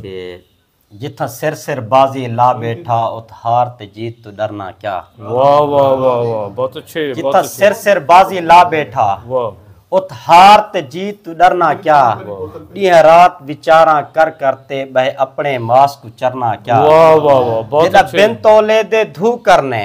تے جتھاں سر سر بازی لا بیٹھا اتھ ہار تے جیت توں ڈرنا کیا واہ واہ واہ واہ بہت اچھے جتھاں سر سر بازی لا بیٹھا اتھ ہار تے جیت توں ڈرنا کیا ڈیہہ رات وچاراں کر کر تے بہے اپنے ماس کو چرنا کیا واہ واہ واہ بہت اچھے جدا بن تولے دے دھو کرنے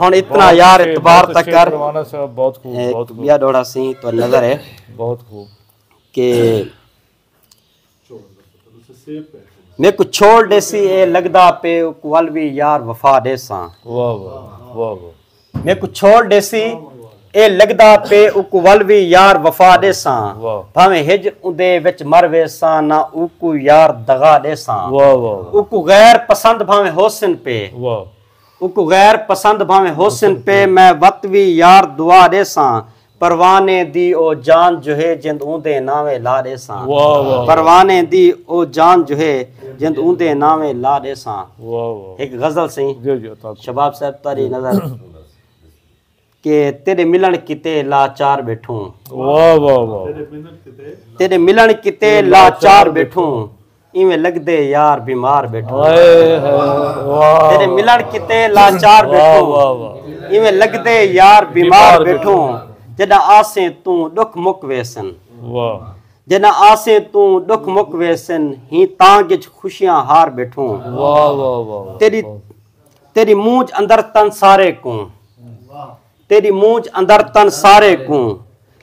ہن اتنا یار اعتبار تک کر بیا ڈوڑا سی تو نظر ہے بہت خوب کہ میں کو چھوڑ دے سی اے لگدا پے کول بھی یار وفا دے ساں میں کو چھوڑ دے سی اے لگدا پے او کول بھی یار وفا دے ساں بھاویں ہج اودے وچ مر وے ساں نہ او کو یار دغا دے ساں او کو غیر پسند بھاویں ہوسن پے اونکوں غیر پسند بھانویں ہوسن پے میں وت وی یار دعا ݙیساں پروانے دی او جان جوہے جند اوندے ناویں لا ݙیساں پروانے دی او جان جوہے جند اوندے ناویں لا ݙیساں ہک غزل سئیں شباب صاحب تاری نظر کہ تیڈے ملن کیتے لاچار بیٹھوں واہ واہ واہ تیڈے ملن کیتے لاچار بیٹھوں ایویں لگدے یار بیمار بیٹھو تیرے ملن کتے لاچار بیٹھو ایویں لگدے یار بیمار بیٹھو جدا آسیں تو دکھ مک ویسن جدا آسیں تو دکھ مک ویسن ہی تانگ وچ خوشیاں ہار بیٹھو تیری تیݙی مونجھ اندر تن سارے کوں تیݙی مونجھ اندر تن سارے کوں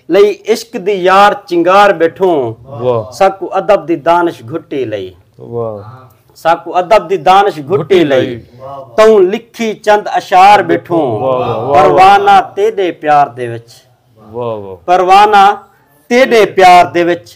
لئی عشق دی یار چنگار ٻیٹھوں ساکوں ادب دی دانش گھٹی لئی ساکوں ادب دی دانش گھٹی لئی توں لکھی چند اشعار ٻیٹھوں پروانہ تیݙے پیار دے وچ پروانہ تیݙے پیار دے وچ